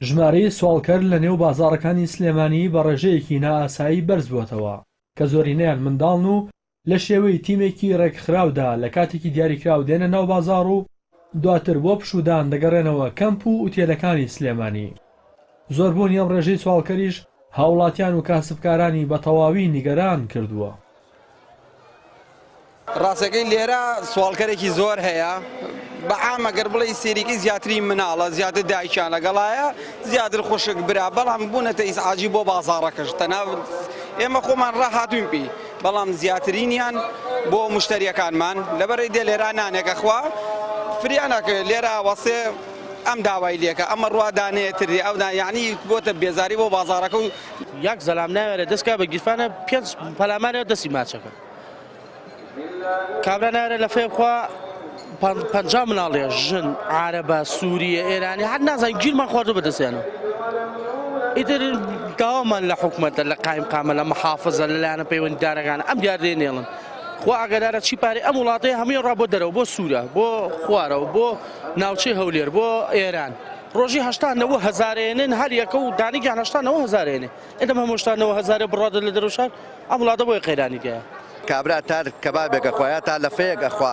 ژمارەی سواڵکەر لە نێو بازاڕەکانی سلێمانی بە ڕێژەیەکی نائاسایی بەرزبووەتەوە، کە زۆرینەیان منداڵن و لە شێوەی تیمێکی ڕێکخراودا لە کاتێکی دیاریکراو دێنە ناو بازاڕ و دواتر بۆ پشوودان دەگەڕێنەوە کەمپ و ئوتێلەکانی سلێمانی. زۆربوونی ئەم ڕێژەی سواڵکەریش هاوڵاتیان و کاسبکارانی بە تەواوی نیگەران کردووە. ڕاستەکەی لێرە سواڵکەرێکی زۆر هەیە بە عامە گەر بڵێ ئیستێریکی زیاتری مناڵە زیاتر دایکیان لەگەڵایە زیاتر خوشک برا بەڵام بوونەتە ئیزعاجی بۆ بازاڕەکەش تەنها ئێمە خۆمان ڕاهاتووین پێی بەڵام زیاترینیان بۆ مشتریەکانمان لەبەرەی دێ لێرا نانێکە خوا فریانەکە لێرا وەسێ ئەم داوای لەکە ئەمە ڕوادانێتری ئەودا یعنی بۆتە بێزاری بۆ بازارەکە و یاک زەلام ناوێرێ دەست کا بە گیرفانە پێنج پەلامارێ دەستی ماچەکە کابرا ناوێرێ لە فێ بخوا پنج مناڵێ ژن عربە سووریە ئێرانی هەر نازان گیرمان خواردو بەدەستیانە ئیتر داوامان لە حکوومەتە لە قایم قامە لە محافظە لەلایەنە پەیوەنددارەکان ئەم دیاردێ نێڵن خوا ئاگدارە چی پارێ ئەم وڵاتی هەمووی ڕا بۆ دەرەوە بۆ سوورە بۆ خوارەوە بۆ ناوچەی هەولێر بۆ ئێران. ڕۆژی هەشتا نەوە هەزارێنن هەر یەکە و دانیگیان هەشتا نەوە هەزارێنێ ئێدەم هەمۆشتا نەوە هەزارێ بڕادە لە دەرەوشار ئەم وڵاتە بۆیە قەیرانی دێە. کابرا تار کەبابێک ئەخوا یا تا لەفەیەک ئەخوا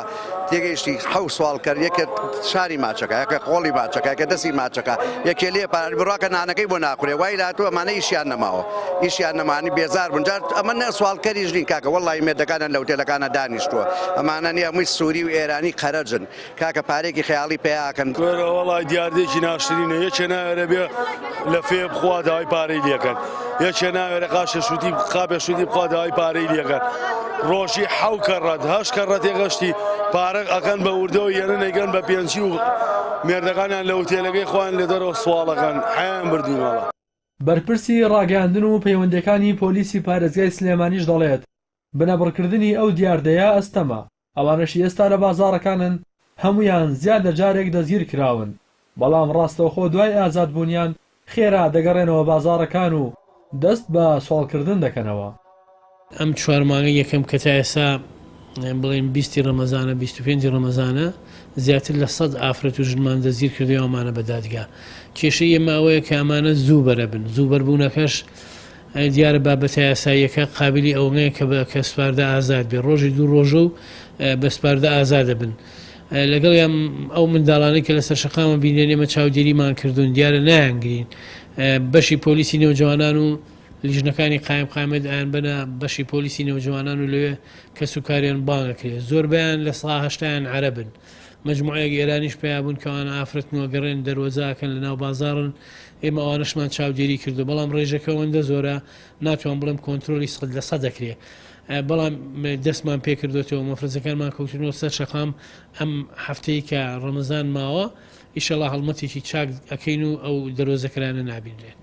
تێگەیشتی حەو سواڵ کەر یەکێ شاری ماچەکە یەکێ قۆڵی ماچەکە یەکێ دەسی ماچەکە یەکێ لێ پار بڕاکە نانەکەی بۆ ناخورێ وای لاتوو ئەمانە ئیشیان نەماوە ئیشیان نەمانی بێزار بوون جار ئەمە نە سواڵکەریش نین کاکە وەڵی مێردەکانیان لە ئوتێلەکانە دانیشتووە ئەمانە نیە مووی سووری و ئێرانی قەرەجن کاکە پارێکی خەیاڵی پەیا ئەکەن. کورە وەڵای دیاردەیەکی ناشرینە یەکێ ناوێرێ بێ لە فێ بخوا داوای پارەی لێکەن یەکێ ناوێرە قاشە شوتی قاپێ شوتی بخوا داوای پارەی لێکەن ڕۆژی حەو کە ڕەت هەش کە ڕەتێ گەشتی پارەک ئەکەن بە وردەوە یەنە نەیگەن بە پێنجی و مێردەکانیان لە وتێلەکەی خوان لە دەرەوە سواڵەکەن حەیان بردوونەوە. بەرپرسی ڕاگەیاندن و پەیوەندییەکانی پۆلیسی پارێزگای سلێمانیش دەڵێت، بنەبڕکردنی ئەو دیاردەیە ئەستەمە، ئەوانەشی ئێستا لە بازاڕەکانن هەموویان زیاد لە جارێک دەستگیرکراون، بەڵام ڕاستەوخۆ دوای ئازادبوونیان خێرا دەگەڕێنەوە بازاڕەکان و دەست بە سواڵکردن دەکەنەوە. ئەم چوار مانگەی یەکەم کە تا ئێستا بڵێین بیست ی ڕەمەزانە، بیست و پێنج ی ڕەمەزانە، زیاتر لە سەد ئافرەت و ژنمان دەستگیرکردوویانە و ئەمانە بە دادگا. کێشەی ئێمە ئەوەیە کە ئەمانە زوو بەرەبن، زوو بەربوونەکەش دیارە بابەتە یاساییەکە قابیلی ئەوەنەیە کە بە کە سپاردە ئازاد بێ ڕۆژی دوو ڕۆژە و بە سپاردە ئازادە بن لەگەڵ یان ئەو منداڵانی کە لەسەر شقامە بینێن ئێمە چاودێریمان کردوون دیارە نایانگرین بەشی پۆلیسی نێوجوانان و لیژنەکانی قایم قامێت ئەیان بەە بەشی پۆلیسی نێوجوانان و لەوێ کەس و کاریان بانەکرێت زۆربیان لە ساهشتیان عربن مجموعەیەک ئێرانیش پیا بوون کەوان ئافرەتنەوە گەڕێن دەروەزاکەن لە ناو بازارن ئێمە ئەوانەشمان چاودێری کردو بەڵام ڕێژەکە ئەوەندە زۆرە ناتوان بڵێم کۆنتترۆلی سەد لە سە دەکرێت بەڵام دەستمان پێکردوێتەوە مەفرزەکانمان کەوتنەوە سەر شەقام ئەم هەفتەی کە ڕەمەزان ماوە ئیشەڵا هەڵمەتێکی چاک ئەەکەین و ئەو دەرۆزەکرانە نابینرێت.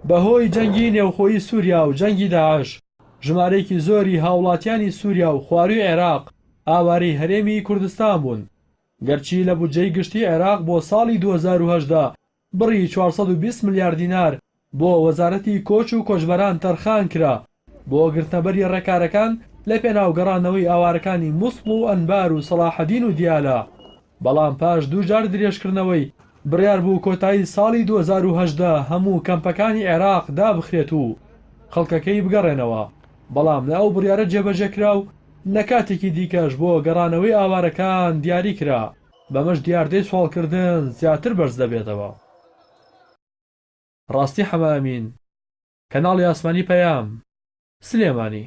بەهۆی جەنگی نێوخۆی سووریا و جەنگی داعش، ژمارەیەکی زۆری هاوڵاتیانی سووریا و خوارووی عێراق ئاوارەی هەرێمی کوردستان بوون. گەرچی لە بودجەی گشتی عێراق بۆ ساڵی دوو هەزار و هەژدە بڕی چوار سەد و بیست ملیار دینار بۆ وەزارەتی کۆچ و کۆچبەران تەرخان کرا بۆ گرتنەبەری ڕێکارەکان لە پێناو گەڕانەوەی ئاوارەکانی موسڵ و ئەنبار و سەڵاحەدین و دیالە، بەڵام پاش دوو جار درێژکردنەوەی بڕیار بوو کۆتایی ساڵی دوو هەزار و هەژدە هەموو کەمپەکانی عێراق دابخرێت و خەڵکەکەی بگەڕێنەوە، بەڵام لە ئەو بڕیارە جێبەجێ کرا و لە کاتێکی دیکەش بۆ گەڕانەوەی ئاوارەکان دیاری کرا، بەمەش دیاردەی سواڵکردن زیاتر بەرز دەبێتەوە. ڕاستی حەمەئەمین، کەناڵی ئاسمانی پەیام، سلێمانی.